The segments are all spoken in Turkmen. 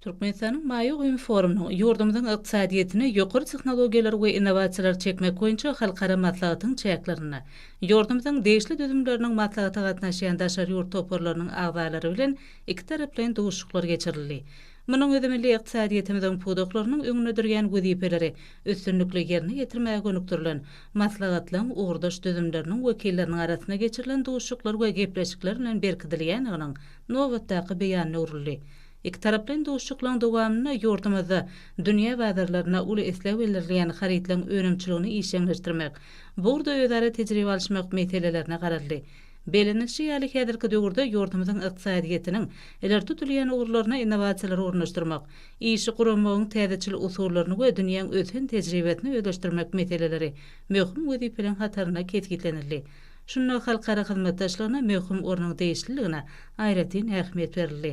Türkmenistanyň Maýa goýum forumynyň ýurdumyzyň ykdysadyýetine ýokary tehnologiýalary we innowasiýalary çekmek boýunça halkara maslahatyň çäklerinde ýurdumyzyň degişli düzümleriniň maslahata gatnaşýan daşary ýurt toparlarynyň agzalary bilen ikitaraplaýyn duşuşyklar geçirildi. Munuň özi milli ykdysadyýetimiziň pudaklarynyň öňünde durýan wezipeleri üstünlikli ýerine ýetirmäge gönükdirilen maslahatlaryň ugurdaş düzümleriniň wekilleriniň arasynda geçirilen duşuşyklar we gepleşikler bilen berkidilýändiginiň nobatdaky beýanyna uruldy. Ikitaraplaýyn duşuşyklaryň dowamynda ýurdumyzda dünýä bazarlaryna uly isleg bildirilýän harytlaryň önümçiligini işjeňleşdirmek, bu ugurda özara tejribe alyşmak meselelerine garaldy. Bellenilişi ýaly, häzirki döwürde ýurdumyzyň ykdysadyýetiniň ileri tutulýan ugurlaryna innowasiýalary ornaşdyrmak, işi guramagyň täzeçil usullaryny we dünýäň ösen tejribesini özleşdirmek meseleleri möhüm wezipeleriň hatarynda kesgitlenildi. Şunda halkara hyzmatdaşlygyna möhüm ornuň degişliligine aýratyn ähmiýet berildi.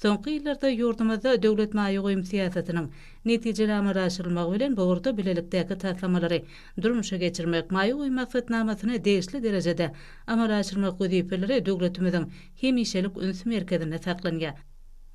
Soňky ýyllarda ýurdumyzda döwlet maýa goýum syýasatynyň netijeli amala aşyrylmagy bilen bu ugurda bilelikdäki taslamalary durmuşa geçirmek, maýa goýum maksatnamasyny degişli derejede amala aşyrmak wezipeleri döwletimiziň hemişelik üns merkezinde saklanýar.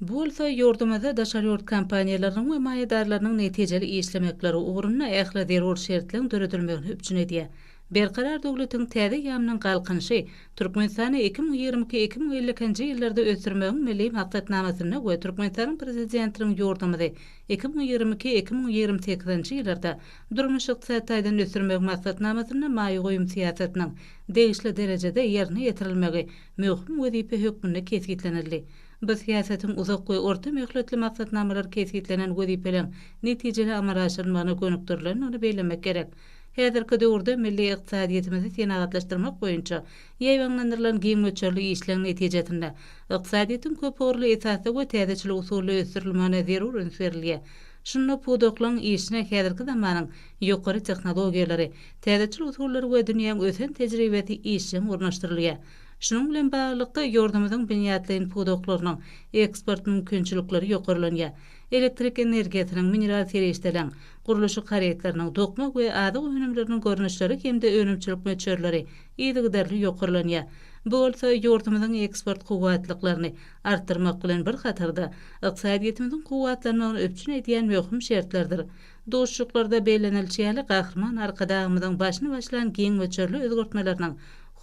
Bu bolsa ýurdumyzda daşary ýurt kompaniýalarynyň we maýadarlarynyň netijeli işlemekleri ugrunda ähli zerur şertleň döredilmegini üpjün edýär. Berkarar döwletiň täze eýýamynyň Galkynyşy Türkmenistany iki müň ýigrimi iki, iki müň elli ikinji ýyllarda ösdürmegiň Milli maksatnamasynda we Türkmenistanyň Prezidentiniň ýurdumyzy iki müň ýigrimi iki, iki müň ýigrimi sekizinji ýyllarda durmuş-ykdysady taýdan ösdürmegiň maksatnamasynda maýa goýum syýasatynyň degişli derejede ýerine ýetirilmegi möhüm wezipe hökmünde kesgitlenildi. Bu syýasatyň uzak we orta möhletli maksatnamalar kesgitlenen wezipeleň netijeli amala aşyrylmagyna gönükdirilendigini bellemek gerek. Häzirki döwürde milli ykdysadyýetimizi senagatlaşdyrmak boýunça ýaýbaňlandyrylan giň möçberli işleň netijesinde, ykdysadyýetiň köpugurly esasda we täzeçil usulda ösdürilmegine zerur üns berilýär. Şunda pudaklaryň işine häzirki zamanyň ýokary tehnologiýalary, täzeçil usullary we dünýäň ösen tejribesi işjeň ornaşdyrylýar. Şunuň bilen baglylykda, ýurdumyzyň binýatlaýyn pudaklarynyň eksport mümkinçilikleri ýokarlanýar. Elektrik energiýasynyň, mineral serişdeleň, gurluşyk harytlarynyň, dokma we azyk önümleriniň görnüşleri hem-de önümçilik möçberleri yzygiderli ýokarlanýar. Bu bolsa ýurdumyzyň eksport kuwwatlyklaryny artdyrmak bilen bir hatarda, ykdysadyýetimiziň kuwwatlanmagyny üpjün edýän möhüm şertlerdir. Duşuşyklarda bellenilişi ýaly, Gahryman Arkadagymyzyň başyny başlan giň möçberli özgertmeleriniň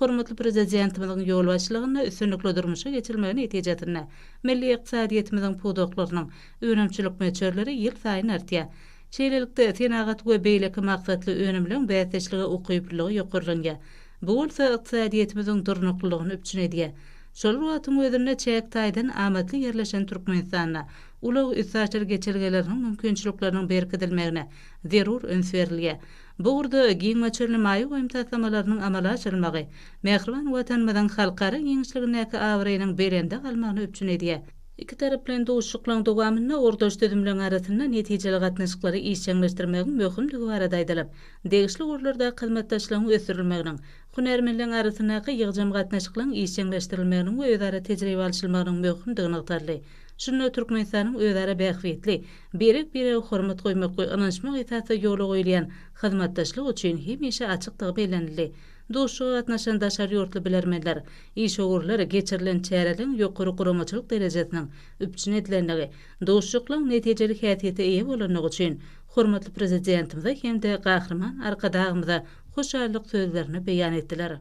hormatly Prezidentimiziň ýolbaşçylygynda üstünlikli durmuşa geçirilmegi netijesinde milli ykdysadyýetimiziň pudaklarynyň Önümçilik möçberleri ýylsaýyn artýar. Şeýlelikde, senagat we beýleki maksatly önümleriň bäsdeşlige ukyplylygy ýokarlanýar. Bu bolsa ykdysadyýetimiziň durnuklylygyny üpjün edýär. Şol bir wagtyň özünde çäk taýdan amatly ýerleşen Türkmenistanda ulag-üstaşyr geçelgeleriniň mümkinçilikleriniň berkidilmegine zerur üns berilýär. Bu ugurda giň möçberli maýa goýum taslamalarynyň amala aşyrylmagy mähriban Watanymyzyň halkara giňişligindäki abraýynyň belende galmagyny üpjün edýär. Ikitaraplaýyn duşuşyklaryň dowamynda ugurdaş düzümleriň arasynda netijeli gatnaşyklary işjeňleşdirmegiň möhümdigi barada aýdylyp, degişli ugurlardaky hyzmatdaşlygyň ösdürilmeginiň, hünärmenleriň arasyndaky ýygjam gatnaşyklaryň işjeňleşdirilmeginiň we özara tejribe alyşylmagynyň möhümdigi nygtaldy. Şunda Türkmenistanyň özara bähbitli, birek-birege hormat goýmak we ynanyşmak esasda ýola goýulýan hyzmatdaşlyk üçin hemişe açykdygy bellenildi. Duşuşyga gatnaşan daşary ýurtly bilermenler, Işewürler geçirilen çäreleriň ýokary guramaçylyk derejesiniň üpjün edilendigi, duşuşyklaryň netijeli häsiýete eýe bolandygy üçin hormatly Prezidentimize hem-de Gahryman Arkadagymyza hoşallyk sözlerini beýan etdiler.